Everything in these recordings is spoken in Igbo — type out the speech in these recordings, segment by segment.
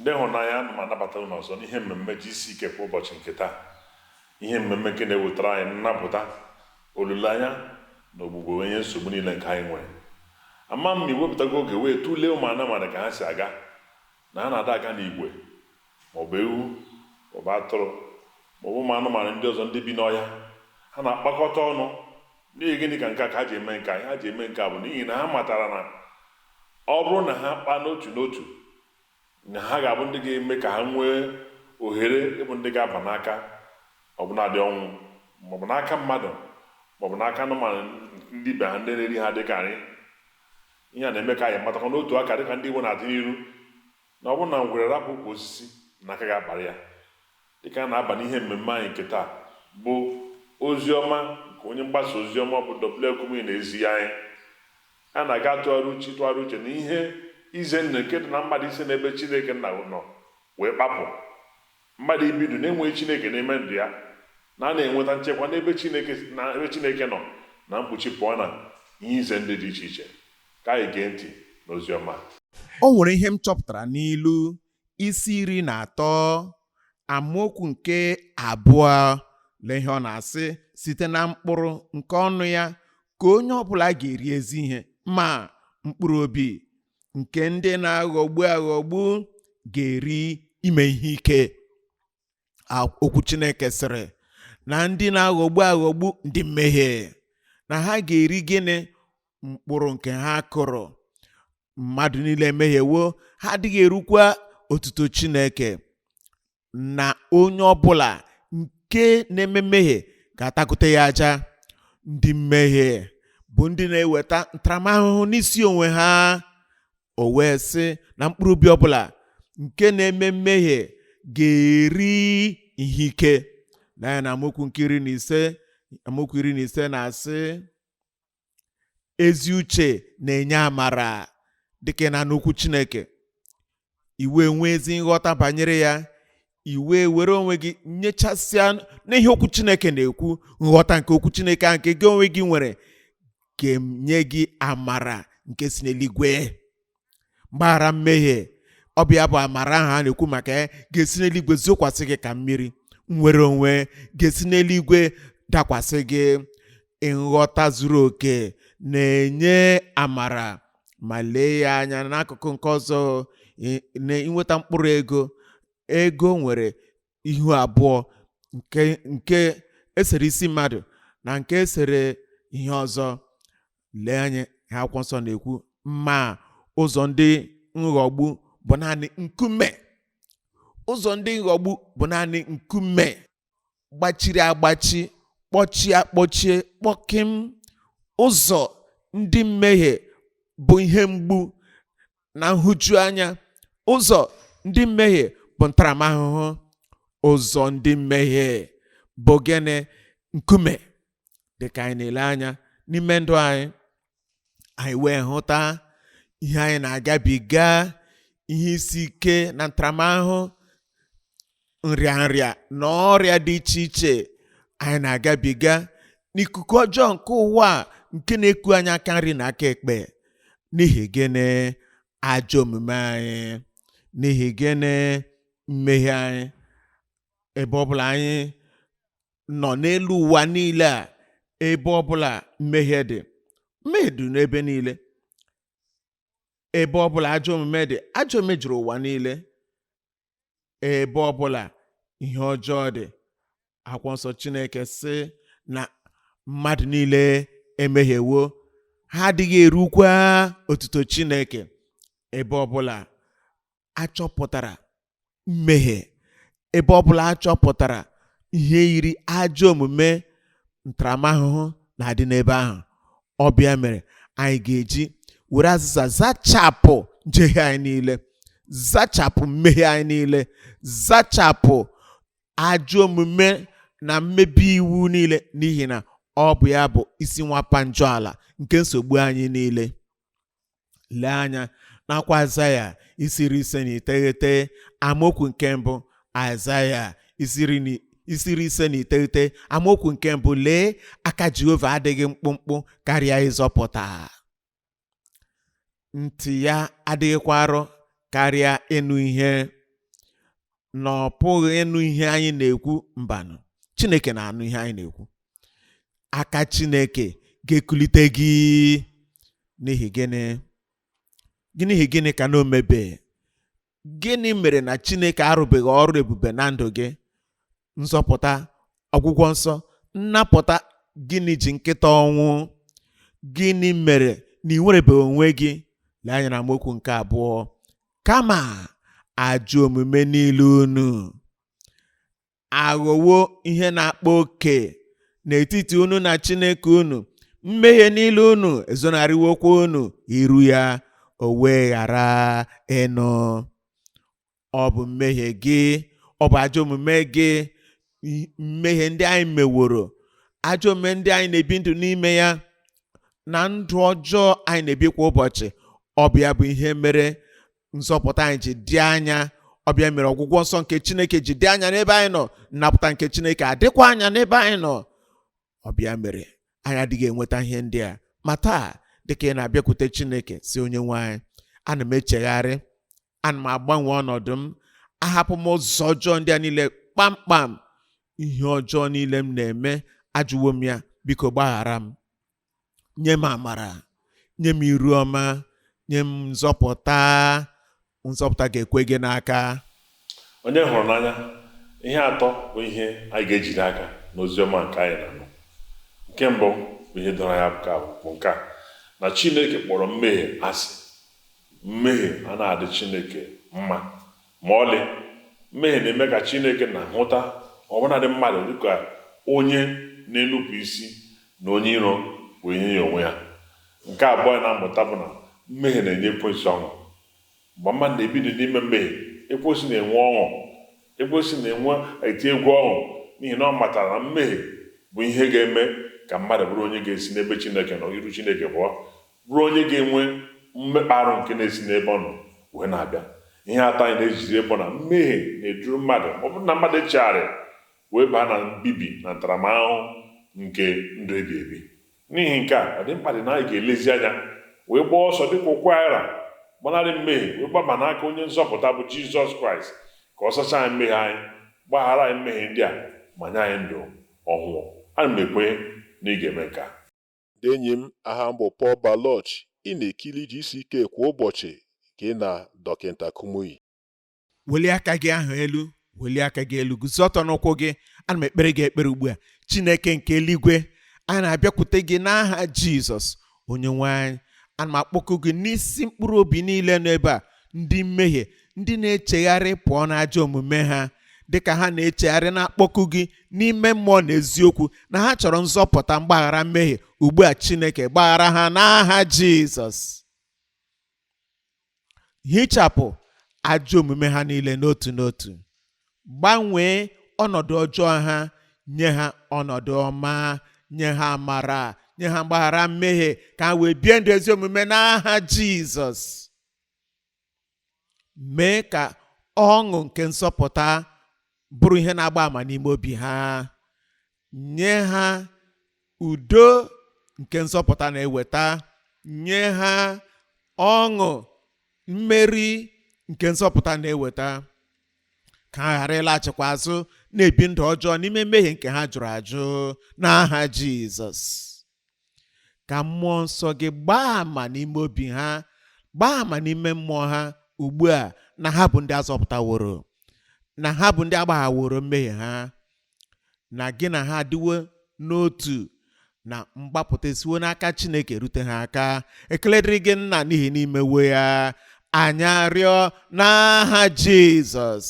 ndị ịhụnanya ana m anabata unu ọzọ n'ihe mmemme GCK kwa ụbọchị nke taa ihe mmemme nke na-ewetara anyị nnapụta olileanya na ogbugbo wee nye nsogbu niile nke anyị nwere ama m ma i wepụtago oge wee tụlee ụmụ anụmanụ ka ha si aga na ha na-ada aga n'igwe maọbụ ewu maọbụ atụrụ maọbụ ụmụ anụmanụ ndị ọzọ ndị bi n'ọhịa ha na-akpakọta ọnụ n'ihi gịnị ka nke a ka ha ji eme nke a ha ji eme nke a bụ n'ihi na ha matara na Ọ bụrụ na ha kpaa n'otu n'otu, na ha ga-abụ ndị ga-eme ka ha nwee ohere ịbụ ndị ga-aba n'aka ọbụnadị ọnwụ, ma ọ bụ n'aka mmadụ ma ọ bụ n'aka anụmanụ ndị ibe ha ndị na-eri ha dịka nri. Ihe a na-eme ka anyị matakwa n'otu aka dịka ndị Igbo na-atụ n'ilu. na ọ bụrụ na ngwere rapụ ukwu osisi na aka ga-akpara ya dịka a na-aba n'ihe mmemme anyị nke taa bụ ozi ọma nke onye mgbasa ozi ọma bụ W. F. Kumuyi na-ezi anyị. A na-aga atụgharị uche ịtụgharị uche na ihe ize ndụ nke dị na mmadụ isi n'ebe Chineke Nna nọ wee kpapụ. Mmadụ ibi ndụ na-enweghị Chineke n'ime ndụ ya na a na-enweta nchekwa n'ebe Chineke nọ na mkpuchi pụọ na ihe ize ndụ dị iche iche. Ka anyị gee ntị n'ozi ọma. O nwere ihe m chọpụtara n'ilu isi iri na atọ amaokwu nke abụọ. Lee ihe ọ na-asị, site na mkpụrụ nke ọnụ ya ka onye ọbụla ga-eri ezi ihe, ma mkpụrụ obi nke ndị na-aghọgbu aghọgbu ga-eri ime ihe ike okwu Chineke sịrị na ndị na-aghọgbu aghọgbu ndị mmehie na ha ga-eri gịnị mkpụrụ nke ha kụrụ mmadụ niile emehiewo ha adịghị erukwa otuto Chineke na onye ọbụla nke na-eme mmehie ga-atakute ya aja ndị mmehie bụ ndị na-eweta ntaramahụhụ n'isi onwe ha o wee sị na mkpụrụ obi ọbụla nke na-eme mmehie ga-eri ihe ike lee anya na amaokwu nke iri na ise amaokwu iri na ise na-asị ezi uche na-enye amara dịka na n'okwu chineke i wee nwee ezi nghọta banyere ya i wee were onwe gị nyechasịa n'ihe okwu chineke na-ekwu nghọta nke okwu chineke a nke gị onwe gị nwere ga-enye gị amara nke si n'eluigwe mgbaghara mmehie ọ bụ ya bụ amara ahụ a na-ekwu maka ya ga-esi n'eluigwe zokwasị gị ka mmiri nnwere onwe ga-esi n'eluigwe dakwasị gị nghọta zuru oke na-enye amara ma lee ya anya n'akụkụ nke ọzọ ị- na i nweta mkpụrụ ego ego nwere ihu abụọ nke nke esere isi mmadụ na nke esere ihe ọzọ lee anya ihe akwụkwọ nsọ na-ekwu ma ụzọ ndị nghọgbu bụ naanị nkume ụzọ ndị nghọgbu bụ naanị nkume gbachiri agbachi kpọchie akpọchie kpọkịm ụzọ ndị mmehie bụ ihe mgbu na nhụjuanya ụzọ ndị mmehie bụ ntaramahụhụ ụzọ ndị mmehie bụ gịnị nkume dịka anyị na-ele anya n'ime ndụ anyị anyị wee hụta ihe anyị na-agabiga ihe isi ike na ntaramahụhụ nrịanrịa na ọrịa dị iche iche anyị na-agabiga n'ikuku ọjọọ nke ụwa a nke na-eku anyị aka nri na aka ekpe n'ihi gịnị ajọ omume anyị n'ihi gịnị mmehie anyị ebe ọbụla anyị nọ n'elu ụwa niile a ebe ọbụla mmehie dị mmehie dị n'ebe niile ebe ọbụla ajọ omume dị ajọ omume juru ụwa niile ebe ọbụla ihe ọjọọ dị akwụkwọ nsọ chineke sị na mmadụ niile emehiewo ha adịghị erukwa otuto chineke ebe ọbụla achọpụtara mmehie ebe ọbụla achọpụtara ihe yiri ajọ omume ntaramahụhụ na-adị n'ebe ahụ ọ bụ ya mere anyị ga-eji were azịza zachapụ njehie anyị niile zachapụ mmehie anyị niile zachapụ ajọ omume na mmebi iwu niile n'ihi na ọ bụ ya bụ isi nwapa njọ ala nke nsogbu anyị niile lee anya n'akwụkwọ aịzaya isi iri ise na iteghete amaokwu nke mbụ aịzaya isi iri na isi iri ise na iteghete amaokwu nke mbụ lee aka jehova adịghị mkpụmkpụ karịa ịzọpụta ntị ya adịghịkwa arọ karịa ịnụ ihe na ọ pụghị ịnụ ihe anyị na-ekwu mbanụ chineke na-anụ ihe anyị na-ekwu aka chineke ga-ekulite gị n'ihi gịnị n'ihi gịnị ka na o mebe gịnị mere na chineke arụbeghị ọrụ ebube na ndụ gị nzọpụta ọgwụgwọ nsọ nnapụta gịnị ji nkịta ọnwụ gịnị mere na i nwerebeghị onwe gị lee anya na amaokwu nke abụọ kama ajọ omume niile unu aghọwo ihe na-akpa oke n'etiti unu na chineke unu mmehie niile unu ezonarịwokwa unu iru ya o wee ghara ịnụ ọ bụ mmehie gị ọ bụ ajọ omume gị i- mmehie ndị anyị meworo ajọ omume ndị anyị na-ebi ndụ n'ime ya na ndụ ọjọọ anyị na-ebi kwa ụbọchị ọ bụ ya bụ ihe mere nzọpụta anyị ji dị anya ọ bụ ya mere ọgwụgwọ nsọ nke chineke ji dị anya n'ebe anyị nọ nnapụta nke chineke adịkwa anya n'ebe anyị nọ ọ bụ ya mere anyị adịghị enweta ihe ndị a ma taa dịka ị na-abịakwute chineke sị onye nwe anyị ana m echegharị ana m agbanwe ọnọdụ m ahapụ m ụzọ ọjọọ ndị a niile kpamkpam ihe ọjọọ niile m na-eme ajụwo m ya biko gbaghara m nye m amara nye m iru ọma nye m nzọpụta nzọpụta ga-ekwe gị n'aka onye hụrụ n'anya ihe atọ bụ ihe anyị ga-ejide aka n'ozi ọma nke anyị na-anụ nke mbụ bụ ihe doro anya bụ ka bụ nke a na chineke kpọrọ mmehie asị mmehie anaghị adị chineke mma Ma ọlị, mmehie na-eme ka Chineke na-ahụta ọbụnadị mmadụ dị ka onye na-enupụ isi na onye iro wee nye ya onwe ya. Nke abụọ anyị na-amụta bụ na mmehie na-enye ekwensu ọṅụ. Mgbe mmadụ na-ebi ndụ n'ime mmehie, ekwensu na-enwe ọṅụ. Ekwensu na-enwe eti egwu ọṅụ n'ihi na ọ matara na mmehie bụ ihe ga-eme ka mmadụ bụrụ onye ga-esi n'ebe Chineke nọ iru Chineke pụọ. bụrụ onye ga-enwe mmekpa arụ nke na-esi n'ebe ọ nọ wee na-abịa. Ihe atọ anyị na-ejizi bụ na mmehie na-eduru mmadụ ma ọ bụrụ na mmadụ echegharịghị wee baa na mbibi na ntaramahụhụ nke ndụ ebi ebi. N'ihi nke a, ọ dị mkpa dị na anyị ga-elezi anya wee gbaa ọsọ dịka ụkwụ anyị ra, gbanarị mmehie wee gbaba n'aka Onye Nzọpụta bụ Jizọs Kraịst ka Ọ sachaa anyị mmehie anyị, gbaghara anyị mmehie ndị a ma nye anyị ndụ ọhụụ. Ana m ekwenye na ị ga-eme nke a. Ndị enyi m, aha m bụ Paul Baloch, ị na-ekiri GCK kwa ụbọchị gị na Dọkịta Kumuyi. Welie aka gị ahụ elu, welie aka gị elu, guzo ọtọ n'ụkwụ gị. Ana m ekpere gị ekpere ugbu a. Chineke nke eluigwe, a na-abịakwute gị n'aha Jizọs, Onyenwe anyị. Ana m akpọku gị n'isi mkpụrụ obi niile nọ ebe a. ndị mmehie ndị na-echegharị pụọ n'ajọ omume ha dịka ha na-echegharị na-akpọku gị n'ime mmụọ na eziokwu na ha chọrọ nzọpụta mgbaghara mmehie ugbu a Chineke gbaghara ha n'aha Jizọs hichapụ ajọ omume ha niile n'otu n'otu gbanwee ọnọdụ ọjọọ ha nye ha ọnọdụ ọma nye ha amara nye ha mgbaghara mmehie ka ha wee bie ndụ ezi omume n'aha Jizọs mee ka ọṅụ nke nsọpụta bụrụ ihe na-agba ama n'ime obi ha nye ha udo nke nsọpụta na-eweta nye ha ọṅụ mmeri nke nsọpụta na-eweta ka ha ghara ịlaghachikwa azụ na-ebi ndụ ọjọọ n'ime mmehie nke ha jụrụ ajụ n'aha Jizọs ka mmụọ nsọ gị gbaa ama n'ime obi ha gbaa ama n'ime mmụọ ha ugbu a na ha bụ ndị azọpụtaworo na ha bụ ndị agbaghaworo mmehie ha na gị na ha adịwo n'otu na mgbapụta esiwo n'aka chineke rute ha aka ekele dịrị gị nna n'ihi na i mewo ya anyị arịọ n'aha jizọs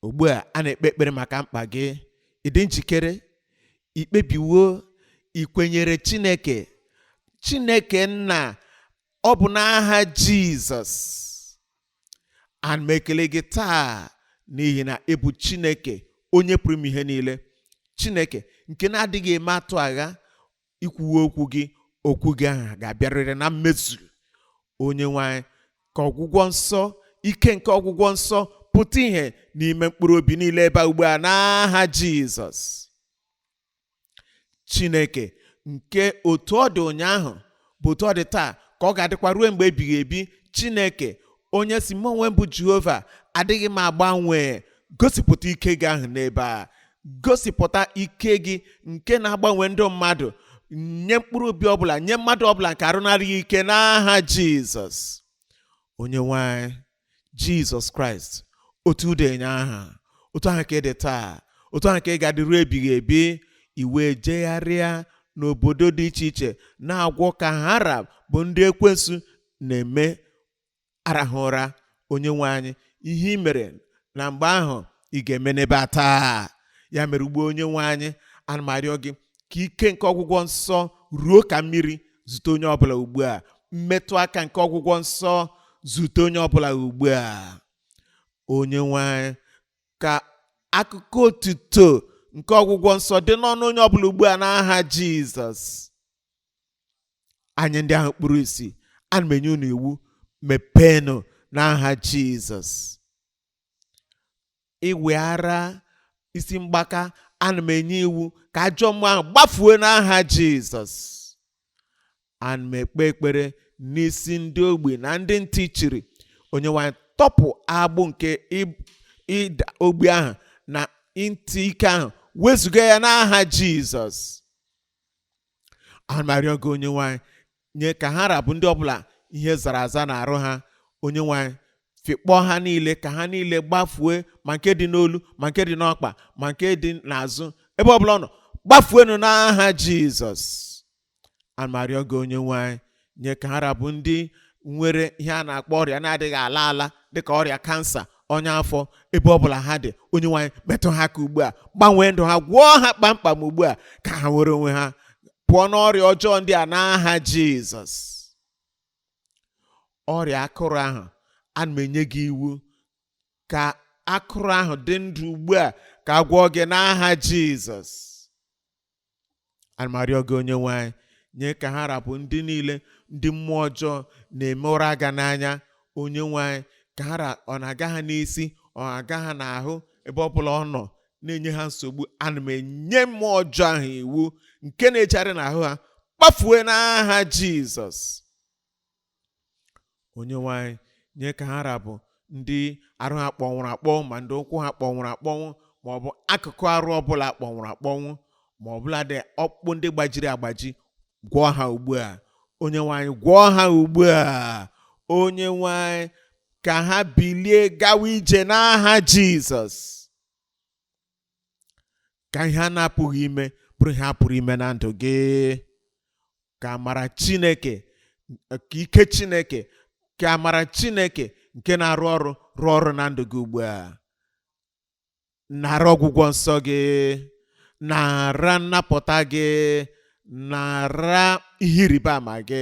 ugbu a a na-ekpe ekpere maka mkpa gị ị dị njikere i kpebiwo ikwenyere chineke chineke nna ọ bụ n'aha jizọs ana m ekele gị taa n'ihi na ị bụ chineke onye pụrụ ime ihe niile chineke nke na-adịghị eme atụ agha i kwuwo okwu gị okwu gị ahụ ga-abịarịrị na mmezu onye nwe anyị ka ọgwụgwọ nsọ ike nke ọgwụgwọ nsọ pụta ihe n'ime mkpụrụ obi niile ebe ugbu a n'aha jizọs chineke nke otu ọ dị ụnyaahụ bụ otu ọ dị taa ka ọ ga-adịkwa ruo mgbe ebighị ebi chineke onye sị mụ onwe m bụ jehova adịghị m agbanwe gosipụta ike gị ahụ n'ebe a gosipụta ike gị nke na-agbanwe ndụ mmadụ nye mkpụrụ obi ọbụla nye mmadụ ọbụla nke arụ na-adịghị ike n'aha jizọs onye nwe anyị jizọs kraịst otu ị dị ụnyaahụ otu ahụ ka ị dị taa otu ahụ ka ị ga-adịru ebighị ebi i wee jegharịa n'obodo dị iche iche na-agwọ ka ha ra bụ ndị ekwensu na-eme arahụ ụra onye nwe anyị ihe i mere na mgbe ahụ ị ga-eme n'ebe a taa ya mere ugbu a onye nwe anyị ana m arịọ gị ka ike nke ọgwụgwọ nsọ ruo ka mmiri zute onye ọbụla ugbu a mmetụ aka nke ọgwụgwọ nsọ zute onye ọbụla ugbu a onye nwe anyị ka akụkọ otuto nke ọgwụgwọ nsọ dị n'ọnụ onye ọbụla ugbu a n'aha jizọs anya ndị ahụ kpuru isi ana m enye unu iwu mepeenụ n'aha jizọs ịwị ara isi mgbaka ana m enye iwu ka ajọ mmụọ ahụ gbafuo n'aha jizọs ana m ekpe ekpere n'isi ndị ogbi na ndị ntị chiri onye nwe anyị tọpụ agbụ nke ib- ịda ogbi ahụ na ntị ike ahụ wezụga ya n'aha jizọs ana m arịọ gị onye nwe anyị nye ka ha ra bụ ndị ọbụla ihe zara aza n'arụ ha onye nwe anyị fịkpọọ ha niile ka ha niile gbafue ma nke dị n'olu ma nke dị n'ọkpa ma nke dị n'azụ ebe ọbụla ọ nọ gbafuenu n'aha jizọs ana m arịọ gị onye nwe anyị nye ka ha ra bụ ndị nwere ihe a na-akpọ ọrịa na-adịghị ala ala dịka ọrịa kansa ọnya afọ ebe ọ bụla ha dị onye nwe anyị metụ ha aka ugbu a gbanwee ndụ ha gwọọ ha kpamkpam ugbu a ka ha nwere onwe ha pụọ n'ọrịa ọjọọ ndị a n'aha jizọs ọrịa akụrụ ahụ ana m enye gị iwu ka akụrụ ahụ dị ndụ ugbu a ka a gwọọ gị n'aha jizọs arịọ gị onye nwe anyị nye ka ha ra bụ ndị niile ndị mmụọ ọjọọ na-eme ụra aga n'anya onye nwe anyị ka ha ra- ọ na-aga ha n'isi ọ na-aga ha n'ahụ ebe ọ bụla ọ nọ na-enye ha nsogbu ana m enye mmụọ ọjọọ ahụ iwu nke na-ejegharị n'ahụ ha kpafue n'aha jizọs onyenwe anyị nye ka ha ra bụ ndị arụ ha kpọnwụrụ akpọnwụ ma ndị ụkwụ ha kpọnwụrụ akpọnwụ ma ọ bụ akụkụ arụ ọbụla kpọnwụrụ akpọnwụ ma ọbụladị ọkpụkpụ ndị gbajiri agbaji gwọọ ha ugbu a onyenwe anyị gwọọ ha ugbu a onyenwe anyị ka ha bilie gawa ije n'aha jizọs ka ihe a na-apụghị ime bụrụ ihe a pụrụ ime na ndụ gị ka amara chineke ka ike chineke ka amara chineke nke na-arụ ọrụ rụọ ọrụ na ndụ gị ugbu a nara ọgwụgwọ nsọ gị nara nnapụta gị nara ihe ịrịba ama gị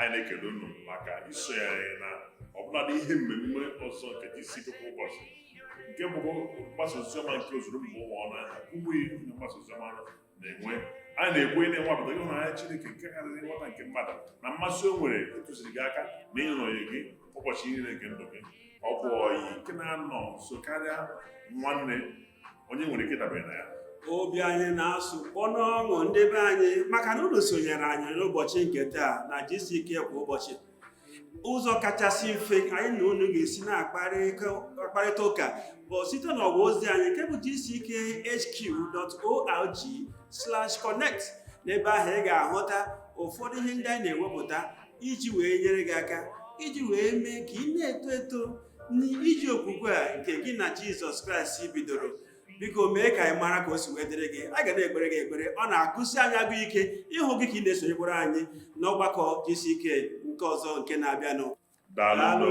anyị na-ekele unu maka isonye anyị na ọbụladị ihe mmemme ọzọ nke GCK kwa ụbọchị nke bụkwa mgbasa oziọma nke ozuru mba ụwa ọnụ anyị na Kumuyi onye mgbasa oziọma na-enwe anyị na-ekwe ị na-enwapụta ịhụnanya Chineke nke karịrị nghọta nke mmadụ na mmasị o nwere ịtụziri gị aka na ịnọnyere gị ụbọchị niile nke ndụ gị ọ bụ ọyị nke na-anọ nso karịa nwanne onye nwere ike dabere na ya obi anyị na-asụ kpọ n'ọṅụ ndị be anyị maka na unu sonyere anyị n'ụbọchị nke taa na GCK kwa ụbọchị ụzọ kachasị mfe anyị na unu ga-esi na-akparịta ụka bụ site n'ọwa ozi anyị nke bụ gckhq.org slash connect n'ebe ahụ ị ga-ahụta ụfọdụ ihe ndị anyị na-ewepụta iji wee nyere gị aka iji wee mee ka ị na-eto eto n'ije okwukwe a nke gị na Jizọs Kraịst bidoro biko mee ka anyị mara ka o si wee dịrị gị a ga na-ekpere gị ekpere ọ na-agụsi anyị agụụ ike ịhụ gị ka ị na-esonyekwara anyị n'ọgbakọ GCK nke ọzọ nke na-abịanụ daalụ